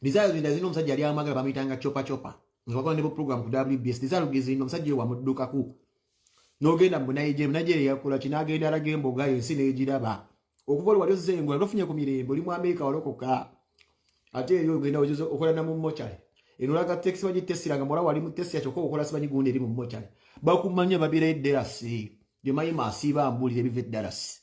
Desire Luginda zino omusajja yali amwagala bamuyitanga chopa chopa nga bakola ne program ku WBS Desire Luginda zino omusajja wa mudduka ku nogenda mu Nigeria Nigeria yakola kinagenda alaga emboga yensi negiraba okuva wali ozze engola nofunye ku mirembe oli mu Amerika walokoka ate eyo ogenda ojuze okola na mu mochari enolaga taxi baji tesira nga mola wali mu taxi achoka okola sibanyi gundi eri mu mochari bakumanya babira edelasi bye mayima asiba ambulire bive dalasi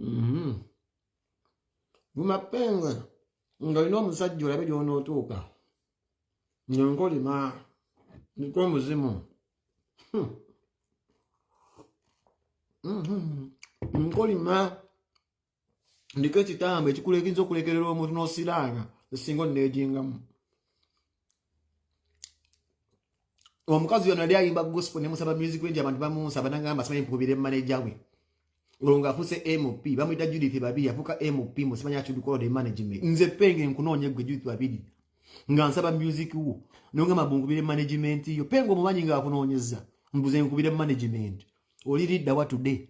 Mm-hmm. Vuma penge nga olina omusajja olabe gy'onootuuka nga nkolima niko omuzimu hmm. mm-hmm. nkolima ndiko ekitambo ekikulekiriza okulekerera omuntu n'osiraanga esinga onneejingamu omukazi yono yali ayimba gospel nemusaba music wengi abantu bamunsaba nangamba simanyi mpukubire manaja we olwo ng'afuuse mp bamuyita judith babiri yafuuka mp musimanyi atudukode management nze penge nkunoonya gwe judith babiri nga nsaba music wo nongamba bunkubire management yo penge omumanyi ng'akunoonyeza mbuze nkubire management oli liddawa today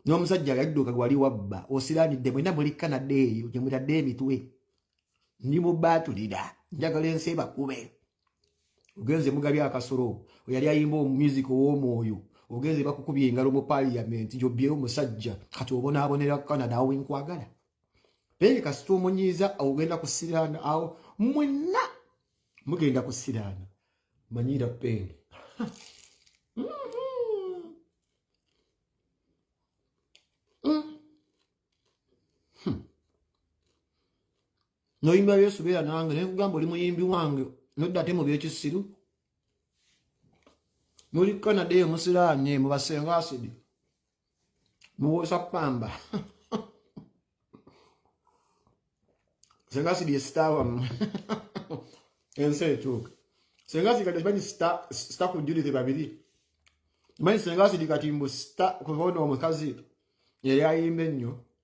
n'omusajja yadduka gwali wabba osiranidde mwena muli kanada eyo gye mutadde emitwe ndi mu baatulira njagala ensi ebakube ogenze mugabi akasolo oyali ayimba omumusik ow'omwoyo ogenze bakukubya engalo mu paliyamenti gyobbyeo omusajja kati obonaabonera kanada awo wenkwagala naye kasita omunyiiza ogenda kusiraana awo mwenna mugenda kusiraana manyira penge noyimba yesu beera nange naye kugamba oli muyimbi wange nodda ate mu byekisiru muli canada eyo musiraanye mubasenga asidi muwoosa pamba senga sibye star wamwe ensi ekyuka senga sikati kimanyi star ku judith babiri manyi senga sidi kati mbu star kuva ono omukazi yali ayimba ennyo